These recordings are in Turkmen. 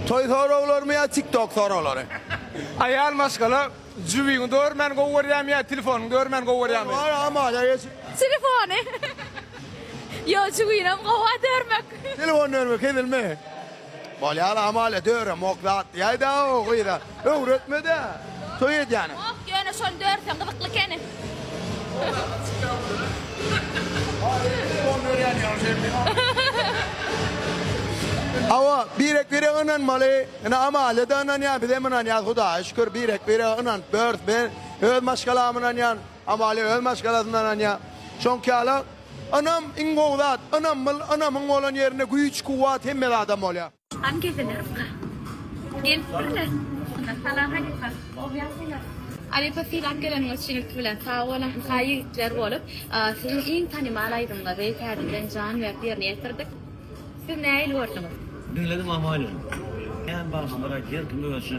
Toý soraglarymy ýa tiktok soraglary. Aýal maşgala jübiňi dörmän gowy görýämi ýa telefonyňy dörmän gowy görýämi. Telefony. Ýok jübinem gowa dörmek. Telefony dörmek hezilmi. Bolýar amalia döremok zatlaýda o gyza. Öwretmedä. Toý edýäne. Ýok, ýöne şony dörsen gyzykly ekeni. Hawa, birek-birege ynanmaly. Ine, Amalia-da ynanýar, bizem ynanýarys, Hudaýa şükür, birek-birege ynanyp bileris. Men öz maşgalama ynanýan, Amalia öz maşgalasyna ynanýar. Şoňky ýaly, ynam iň gowy zat. Ynamly, ynamyň bolan ýerinde güýç-kuwwat hemme zada bolýar. Han gezeler ka. Gelip birle. Salam halypa. Owyaz bilen. Halypa sylap geleniňiz üçin ilki bilen sag boluň. Haý ýigitler bolup, siziň iň tanymal aýdymyňyzy täze bilen jan berip ýerine ýetirdik. Siz nähili gördüňiz? Diňledim aman ýöne. Kän bagşylara her kim özçe.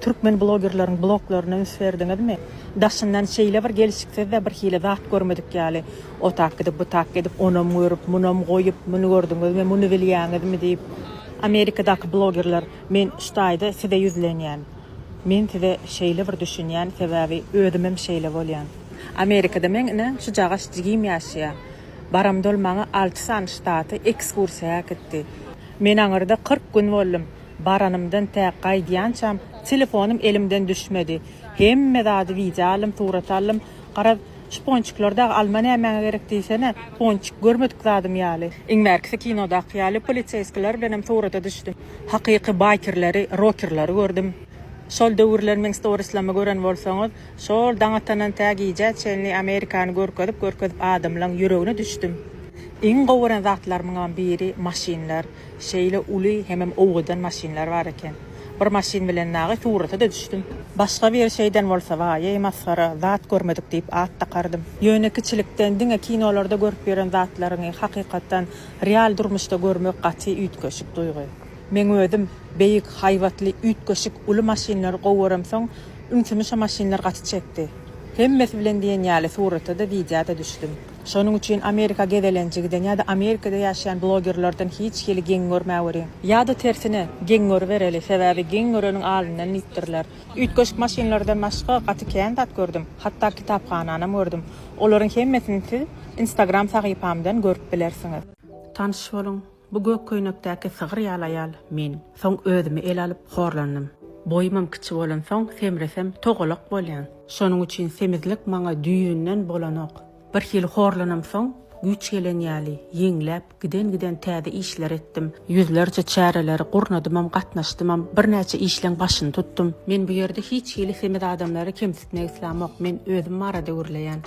Türkmen blogerleriň bloglaryna üns berdiňizmi? Daşyndan şeýle bir gelşiksiz-de birhili zat görmedik ýaly, o tak edip, bu tak edip, onam görüp, munam goýup, muny gördüňizmi, muny bilýäňizmi diýip, Amerikadaky blogerler, men şu taýda size ýüzlenýän. Men size şeýle bir düşünýän, sebäbi özümem şeýle bolýan. Amerikada meň ine şujagaş jigim ýaşaýar. Baramdol maňa alty sany ştata ekskursiýa äkitdi. Men aňyrda kyrk gün boldum. Baranymdan tä gaýdýançam telefonym elimden düşmedi. Hemme zady wideo aldym, surat aldym. Garaz, şu ponçikleri dagy alma nämäňe gerek diýsene, ponçik görmedik zadym ýaly. Iň bärkisi kinodaky ýaly poliseýskiler bilenem surata düşdüm. Hakyky baýkerleri, rokerleri gördüm. Şol döwürler meň storislamy gören bolsaňyz, şol daň atandan tä gijä çenli Amerikany görkezip-görkezip adamlaň ýüregine düşdüm. Iň gowy gören zatlarymyňam biri maşynlar. Şeýle uly hemem owgadan maşynlar bar eken. Bir maşyn bilen nagy surata-da düşdüm. Başga biri şeýden bolsa waýeý masgara, zat görmedik diýip at dakardym. Ýöne kiçilikden diňe kinolarda görüp ýören zatlaryňy hakykatdan real durmuşda görmek gaty üýtgeşik duýgy. Meň özüm beýik, haýbatly, üýtgeşik, uly maşynlary gowy göremsoň, ünsümi şo maşynlar gaty çekdi. Hemmesi bilen diýen ýaly surata-da, widýa-da düşdüm. Şonuň üçin Amerika gezelenje giden ýa-da Amerikada ýaşaýan blogerlerden hiç hili geň görmäweri. Ýa-da tersine, geň görübereli, sebäbi geň göreniň alyndan diýipdirler. Üýtgeşik maşynlardan başga gaty kän zat gördüm, hatda kitaphananam gördüm. Olaryň hemmesini siz Instagram sahypamdan görüp bilersiňiz. Tanyş boluň! Bu gök köýnekdäki sygyr ýaly aýal men. Soň özümi ele alyp horlandym. Boýumam kiçi bolansoň, semresem, togalak bolýan. Şonuň üçin semizlik maňa düýbünden bolanok. Birhili horlanamsoň, güýç gelen ýaly, ýeňläp, giden-giden täze işler etdim. Ýüzlerçe çäreleri gurnadymam, gatnaşdymam, birnäçe işleň başyny tutdum. Men bu ýerde hiç hili semiz adamlary kemsitmek islämok, men özüm barada gürleýän.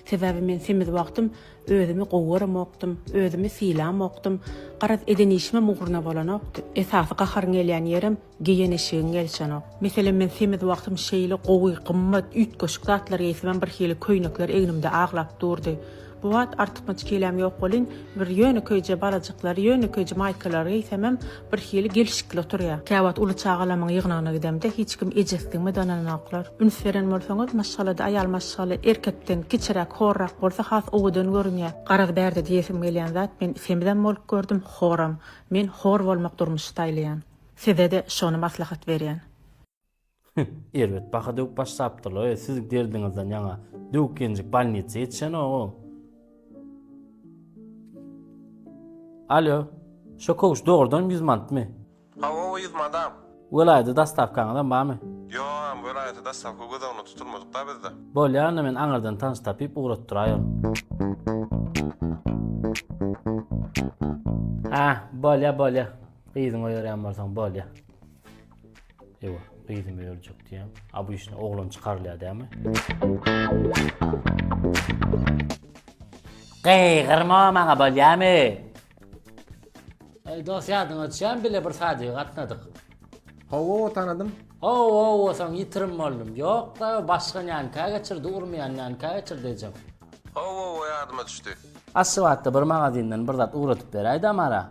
Sebäbi men semiz wagtym Özümi gowaramokdym, özümi sylamokdym. Garaz, eden işimem ugruna bolanokdy. Esasy gaharyň gelýän ýerem, geýen eşigiň gelişenok. Meselem, men semiz wagtym şeýle gowy, gymmat, üýtgeşik zatlar geýsemem birhili köýnekler egnimde aglap durdy. Bu wagt artykmaç keýläm ýok welin, bir ýönekeýje balajyklary, ýönekeýje maýkalary geýsemem, Birhili gelşikli oturýar. Käwagt uly çagalamyň ýygnagyna gidemde, hiç kim ejesidigime dananoklar. Üns beren bolsaňyz, maşgalada aýal maşgala erkekden kiçiräk, horrak bolsa has owadan görünýär. Garaz bärde diýesim gelýän zat, men semizem bolup gördüm, horam. Men hor bolmak durmuşy saýlaýan. Size-de şony maslahat berýän. Hüh, erbet baha döwüp başlapdyr-laý, siz derdiňizden ýaňa döwük gelinjik bolnitsa ýetişenogam. Alýo, şo köwüş dogrudanam ýüz mantmy? Hawa, o ýüz madam. Welaýata dostawkaňyzam barmy? Ýogam, welaýata dostawka göz öňünde tutulmadyk-da bizde. Bolýa, onda men aňyrdan tanyş tapyp ugratdyraý ony. Hä, bolýa, bolýa. Gyzyňy oýarýan bolsaň, bolýa. Ewa, gyzym ölecek diýen. A bu işine oglan çykarylýar dämi? Gyýgyrma maňa bolýamy? Ey dost ýadyň açýan bile bir sady gatnadyk. Hawa, o tanadym. O o o soň ýitirim boldum. Ýok da başga nänkä geçirdi, urmaýan nänkä geçirdi ejem. Hawa, o ýadyma düşdi. Aşgabatda bir magazindan bir zat ugradyp beräýdä mara.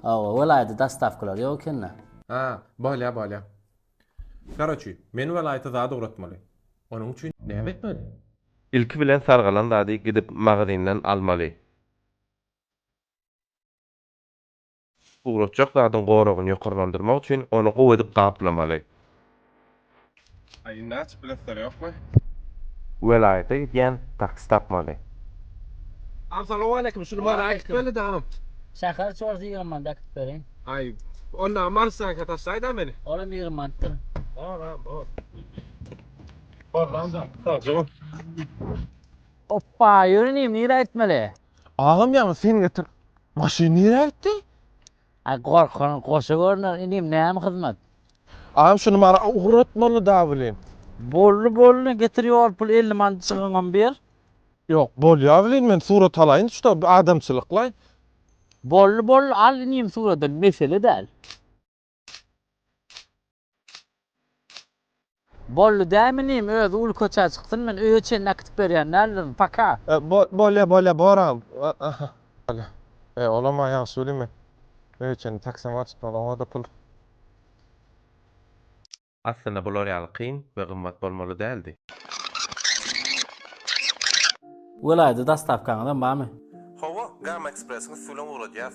Hawa welaýda dastawkalar ýok ekenda. Hä, bolýa bolýa. Karoçi, men welaýata zat ugratmaly. Onuň üçin näme etmeli? Ilki bilen sargalan zady gidip magazindan almaly. Ugratjak zadyň goragyny ýokarlandyrmak üçin ony gowy edip gaplamaly. Welaýata gidýän taksi tapmaly. Oppa ýöne nirä gitmeli. Agam ýaňy sen getir. Maşyn nirä gitdi? Aý gorkany goşa görner inim näme hyzmat. Agam şuny maňa ugratmaly da welin. Boldy boldy getir ýol pul elli manat jygyňam ber. Ýok bolýa welin men surat alaýyn şuda adamçylyklaý. Boldy boldy al inim suraty mesele däl. Bolly dämi inim özi uly köçä çyksyn men öýe çenli äkitip berýän däldirin paka. Bolýa bolýa bor agam bolýa e olamam ýagşy welin men öýe çenli taksama tutmaly oňada pul. Aslynda bular ýaly kyn we gymmat bolmaly däldi. Welaýda dostawkaňyzam barmy? Hawa, Gamma Express-iň üstübilen ugradýas.